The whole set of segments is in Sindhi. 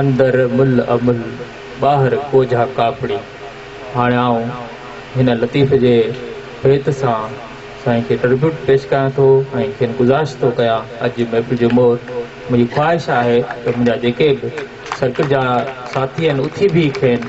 اندر مل ا مل ٻاهر ڪوجها ڪاپڙي. هاڻي آئون هن لطيف جي بيت سان سائين کي ٽربيوٽ پيش ڪيان ٿو ۽ کين گذارش ٿو ڪيان اڄ جي محفل جو مور منهنجي خواهش آهي ته منهنجا جيڪي به سرڪل جا ساٿي آهن اٿي بيهي کين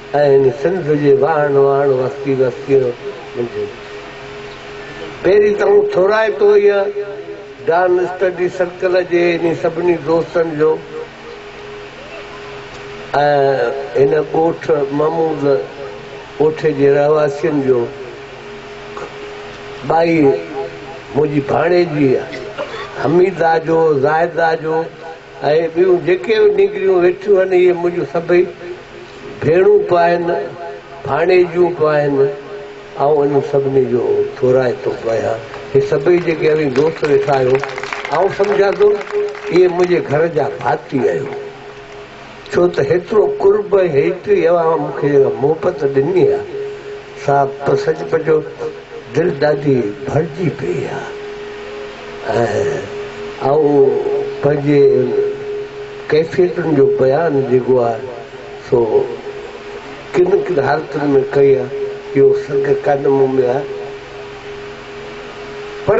آهن سنڌ جي واهڻ واهڻ وستي وستين منجهه پهرين ته آئون ٿورائتو هيء ڊان اسٽڊي سرڪل جي انهي سڀني دوستن جو ۽ هن ڳوٺ محمود ڳوٺي جي رهواسين جو ٻائي منهنجي ڀاڻيجي حميده جو زاهده جو اهي ٻيون جيڪي به نينگريون ويٺيون آهن، اهي منهنجون سڀئي ڀيڻون به آهن، ڀاڻيجيون به آهن. آئون انهن سڀني جو ٿورائتو به آهيان. هي سڀئي جيڪي اوهين دوست ويٺا آهيو، آئون سمجهان ٿو، اهي منهنجي گهر جا ڀاتي آهيو. ڇو ته هيترو قرب ۽ هيتري اوهان مون کي جيڪا محبت ڏني آ سا ته سچ پچو دل ڏاڍي ڀرجي پئي آ ۽ آئون پنهنجي ان ڪيفيتن جو بيان جيڪو آ سو ڪن ڪن حالتن ۾ ڪئي آ اهو سگهه ڪانه مون ۾ آ پر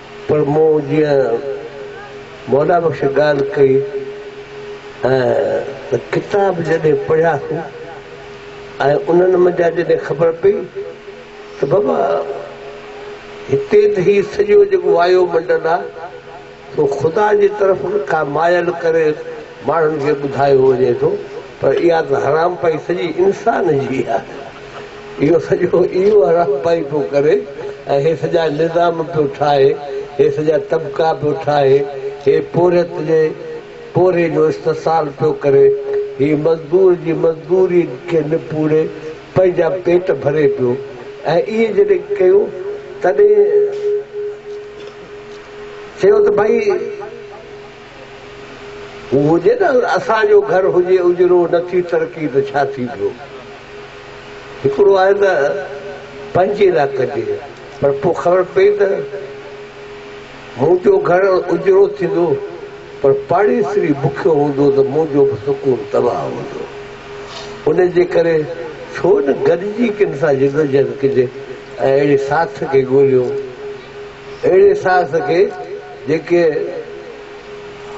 پر مون جيئن مولا بخش ڳالهه ڪئي ۽ ته ڪتاب جڏهن پڙهياسون ۽ انهن منجهان جڏهن خبر پئي ته بابا هتي ته هي سڄو جيڪو وايو منڊل آ سو خدا جي طرف کان مايل ڪري ماڻهن کي ٻڌايو وڃي ٿو پر اها ته حرام پئي سڄي انسان جي آ. اهو سڄو ئي اهڙا پئي پيو ڪري ۽ هي سڄا نظام پيو ٺاهي، هي سڄا طبقا پيو ٺاهي، هي پورهيت جي پورهيي جو استحصال پيو ڪري، هي مزدور جي مزدوري کي نپوڙي پنهنجا پيٽ ڀري پيو ۽ اهي جڏهن ڪيو تڏهن چيو ته ڀائي! هو هجي نه اسان جو گهر هجي اجرو نه ٿي ترقي ته ڇا ٿي پيو هڪڙو آهي ته پنهنجي لاء ڪجي پر پوء خبر پئي ته منهنجو گهر اجرو ٿيندو پر پاڙيسري بکيو هوندو ته منهنجو به سڪون تباهه هوندو ان جي ڪري ڇو نه گڏجي ڪن سان جدوجهد ڪجي ۽ اهڙي ساٿ کي ڳوليون. اهڙي ساس کي جيڪي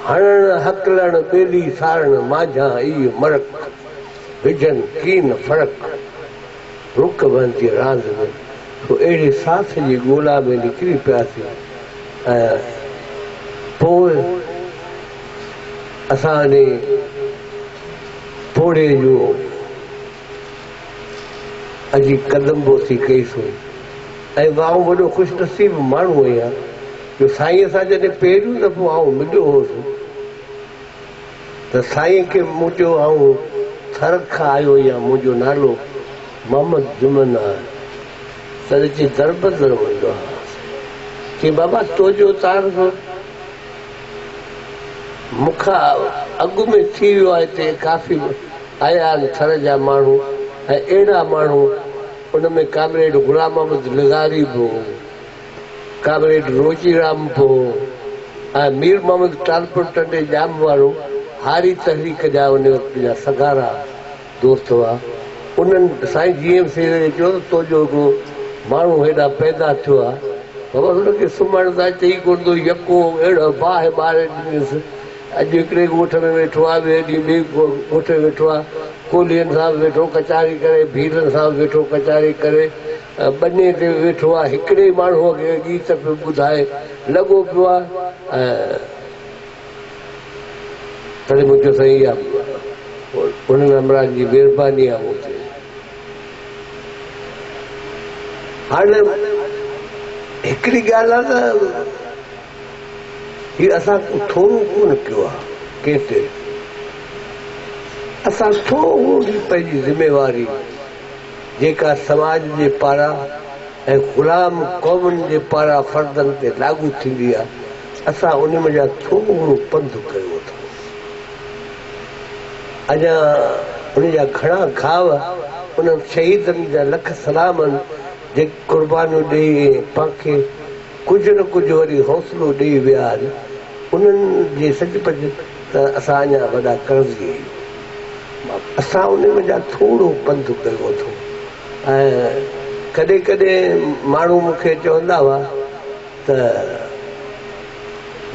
هڻڻ هڪلڻ ٻيلي سارڻ مانجهان اي مرڪ وجهن ڪين فرق رڪ بندي راند ۾ سو اهڙي ساس جي ڳولا ۾ نڪري پياسين ۽ پوء اسان انهي پوڙهي جون اچي قدم بوسي ڪئي سو ۽ آئون وڏو خوش نصيب ماڻهو هيان جو سائينء سان جڏهن پهريون دفعو آئون مليو هوس ته سائينء کي مون چيو آئون ٿرڪ کان آيو هيان منهنجو نالو محمد جمن آهي تڏهن چي دربدر ويندو هيان چي بابا تو جو تعارف مون کان اڳ ۾ ٿي ويو آهي تي ڪافي آيا آهن ٿر جا ماڻهو ۽ اهڙا ماڻهو ان ۾ ڪامريڊ غلام محمد لغاري به هو ڪامريڊ روچي رام به هو ۽ مير محمد ٽالپر ٽنڊي ڄام وارو هاري تحريڪ جا ان وقت جا سگهارا دوست هئا، انهن سائين جي ايم سيد کي چيو ته تو جو هڪڙو ماڻهو هيڏانهن پيدا ٿيو آ، بابا هن کي سمهڻ ته اچي ئي ڪونه ٿو، يڪو اهڙو باهه ٻاري ڏنس، اڄ هڪڙي ڳوٺ ۾ ويٺو آ، ٻئي ڏينهن ٻئي ڳوٺ ۾ ويٺو آ، ڪولهين سان به ويٺو ڪچهري ڪري، ڀيلن سان به ويٺو ڪچهري ڪري، ٻني تي به ويٺو آ، هڪڙي ئي ماڻهوء کي ڳيت پيو ٻڌائي، لڳو پيو آ ۽. تڏهن مون چيو سائين اها انهن همراهن جي مهرباني آهي مون تي. هاڻ هڪڙي ڳالهه آهي ته هي اسان ڪو ٿورو ڪونه ڪيو آهي ڪنهن تي اسان ٿورو به پنهنجي ذميواري جيڪا سماج جي پاران ۽ غلام قومن جي پاران فردن تي لاڳو ٿيندي آهي اسان ان منجهان ٿورو پنڌ ڪيو اٿس. اڃا ان جا گهڻا گهاء انهن شهيدن جا لک سلام آهن، جيڪي قربانيون ڏئي ۽ پان کي ڪجهه نه ڪجهه وري حوصلو ڏئي ويا آهن. انهن جي سچ پچ ته اسان اڃا وڏا قرضي آهيون. اسان ان منجهان ٿورو پنڌ ڪيو اٿو ۽ ڪڏهن ڪڏهن ماڻهو مون کي چوندا هئا. ته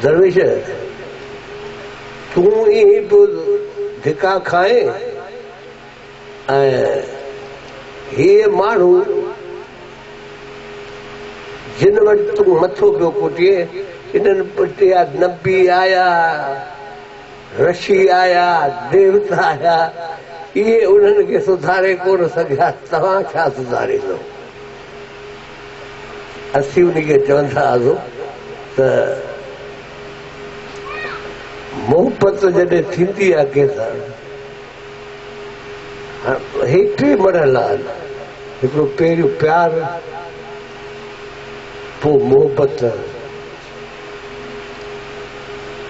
درويش تون ائين ئي پيو ڌڪا کائين ۽ هيء ماڻهو جن وٽ تون مٿو پيو ڪوٽين انهن پٽيا نبي آيا، رشي آيا، ديوتا آيا، اهي انهن کي سڌاري ڪونه سگهيا، توهان ڇا سڌاريندؤ؟ اسين انهي کي چوندا هئاسون ته محبت جڏهن ٿيندي آهي ڪنهن سان هي ٽي مرحلا آهن هڪڙو پهريون پيار پوء محبت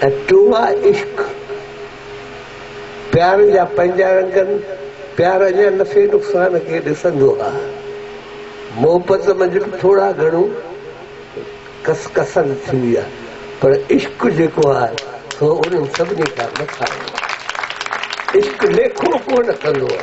۽ ٽيون آهي عشق. پيارن جا پنهنجا رنگن پيار اڃا نفعي نقصان کي ڏسندو آ محبت منجهه به ٿورا گهڻو ڪس ڪسن ٿيندي آ پر عشق جيڪو آ سو انهن سڀني کان مٿان هوندو آ عشق ليکون ڪونه ڪندو آ.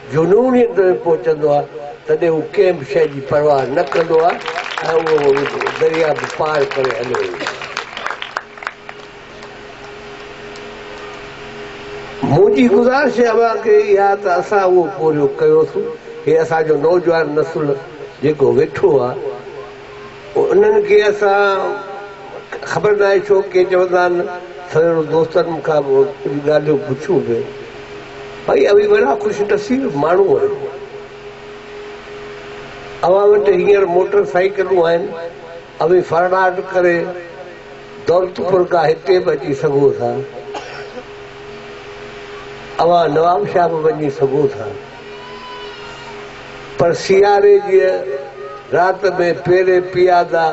جنون ئي اندر ۾ پهچندو آهي، تڏهن هو ڪنهن به شيء جي پرواهه نه ڪندو آهي ۽ اهو درياهه به پار ڪري هليو ويندو آهي. منهنجي گذارش اوهان کي اها آهي ته اسان اهو پورهيو ڪيوسون. هي اسان جو نوجوان نسل جيڪو ويٺو آهي. انهن کي اسان خبر ناهي ڇو ڪي چوندا آهن سويرو دوستن مون کان ڪجهه ڳالهيون پڇيون به ڀائي اوهين وڏا خوش نصيب ماڻهو آهيو اوهان وٽ هينئر موٽر سائيڪلون آهن اوهين فرناٽ ڪري دولتپور کان هتي به اچي سگهو ٿا اوهان نوابشاهه به وڃي سگهو ٿا. پر سياري جيء رات ۾ پيري پيادا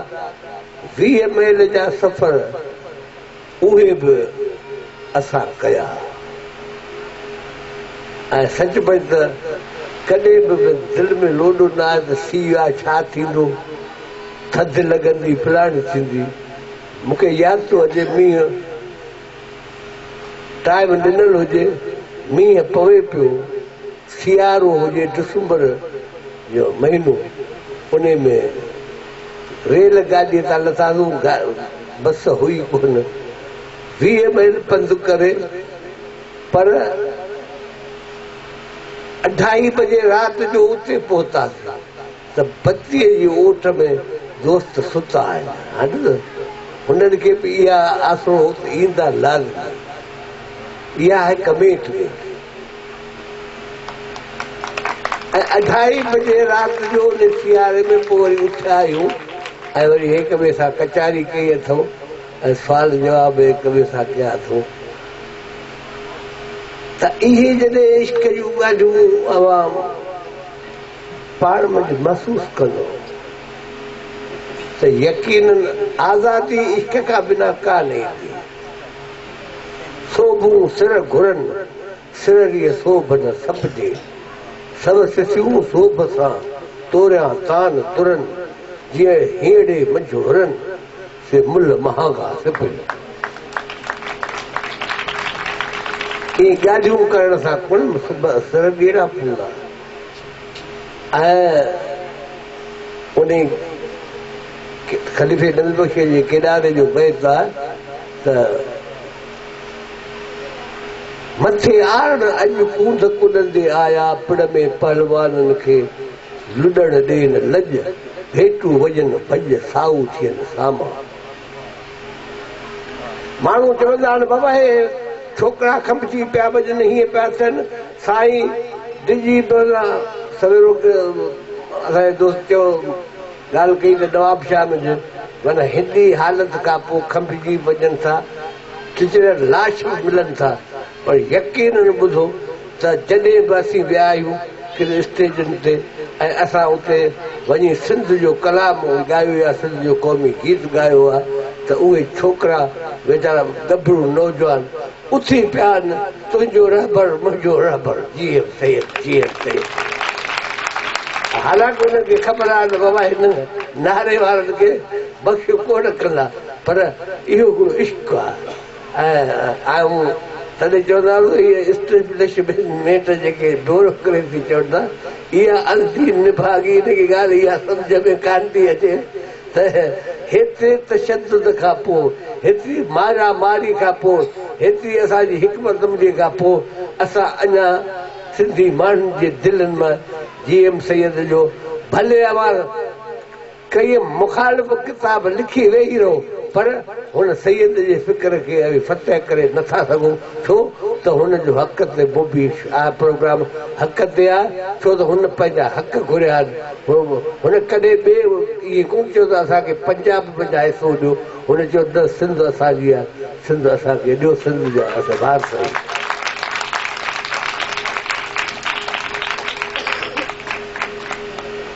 ويهه ميل جا سفر اهي به اسان ڪيا ۽ سچ پچ ته ڪڏهن به به دل ۾ لوڏو نه آيو ته سيء ڇا ٿيندو، ٿڌ لڳندي، فلاڻي ٿيندي. مون کي ياد ٿو اچي مينهن. ٽائيم ڏنل هجي، مينهن پوي پيو، سيارو هجي ڊسمبر جو مهينو انهي ۾ ريل گاڏي تان لٿاسون بس هئي ڪونه ويهه ميل پنڌ ڪري پر اڍائي بجي رات جو اتي پهتاسين. ته پتيء جي اوٺ ۾ دوست ستا آهن، هنڊ نه، هنن کي به اها آسرو هو ته ايندا لازمي. اها آهي ڪمينٽ ۾. ۽ اڍائي بجي رات جو ان سياري ۾ پوء وري اٿيا آهيون ۽ وري هيڪ ٻئي سان ڪچهري ڪئي اٿئون ۽ سوال جواب به هيڪ ٻئي سان ڪيا اٿئون ته اهي جڏهن عشق جون ڳالهيون عوام پاڻ منجهه محسوس ڪندو ته يقيناً آزادي عشق کان بنا ڪانه ايندي. سوڀون سر گهرن، سرريء سوڀ نه سپجي. سو سسيون سوڀ سان توريان تان ترن، جيئن هينئڙي منجهه هرن، سي ملهه مهانگا سپجي. ائين ڳالهيون ڪرڻ سان ڪڻ سرڳيرا پوندا. ۽ انهي خليفي نبي بخش جي ڪيڏاري جو بيت آهي ته، مٿي آرڙ اڄ ڪونڌ ڪڏندي آيا پڙ ۾ پهلوانن کي لڏڻ ڏين لڄ، ڀيٽون وڄن ڀڄ سائو ٿين سامان. ماڻهو چوندا آهن بابا هي ڇوڪرا کنڀجي پيا وڄن هيئن پيا ٿين سائين ڊڄي پوندا سويرو اسان جي دوست چيو ڳالهه ڪئي ته نوابشاهه ۾ جو معنيٰ هيڏي حالت کان پوء کنڀجي وڃن ٿا چچريل لاش به ملن ٿا پر يقينن ٻڌو ته جڏهن به اسين ويا آهيون ڪن اسٽيجن تي ۽ اسان اتي وڃي سنڌ جو ڪلام ڳايو يا سنڌ جو قومي گيت ڳايو آهي ته اهي ڇوڪرا ويچارا ڳڀرو نوجوان اٿي پيا آهن تنهنجو رهبر منهنجو رهبر G M Syed G M Syed حالانڪ انهن کي خبر آهي ته بابا هنن نعري وارن کي بخش ڪونه ڪندا پر اهو هڪڙو عشق آهي. آء تڏهن چوندو آهيان ته اهي اسٽيبلشمينٽ جيڪي بيوروڪريسي چون ٿا، اها السي نڀاڳي ان کي ڳالهه اها سمجهه ۾ ڪانه ٿي اچي ته هيتري تشدد کان پوء، هيتري مارا ماري کان پوء، هيتري اسان جي حڪمت عملي کان پوء اسان اڃا سنڌي ماڻهن جي دلين مان جي ايم سيد جو ڀلي اوهان ڪيئي مخالف ڪتاب لکي ويهي رهو پر هن سيد جي فڪر کي اوهين فتح ڪري نه ٿا سگهو ڇو ته هن جو حق تي بوبيش آء پروگرام حق تي آ ڇو ته هن پنهنجا حق گهريا آهن هن ڪڏهن به ايئن ڪونه چيو ته اسان کي پنجاب بجا حصو ڏيو هن چيو ته سنڌ اسان جي آ سنڌ اسان کي ڏيو سنڌ جا اسان وارث آهيون.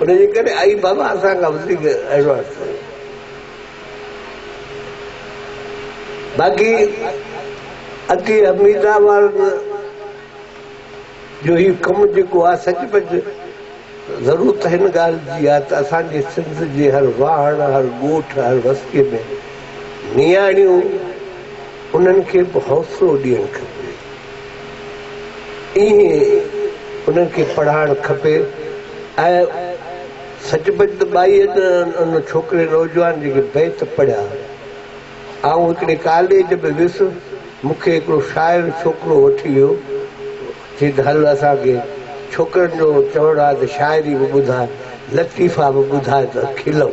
ان جي ڪري آئي بابا اسان کان وڌيڪ ايڊوانس ٿيو باقي اڳي حميده وارن جو هي ڪم جيڪو آ سچ پچ ضرورت هن ڳالهه جي آ ته اسان جي سنڌ جي هر واهڻ هر ڳوٺ هر وستيء ۾ نياڻيون انهن کي به حوصلو ڏيڻ کپي. ائين انهن کي پڙهائڻ کپي ۽ سچ پچ ته ٻائي ان ڇوڪري نوجوان جيڪي بيت پڙهيا آئون هڪڙي ڪاليج ۾ ويس مون کي هڪڙو شاعر ڇوڪرو وٺي ويو چيس هل اسان کي ڇوڪرن جو چوڻ آهي ته شاعري به ٻڌاء لطيفا به ٻڌاء ته کلون.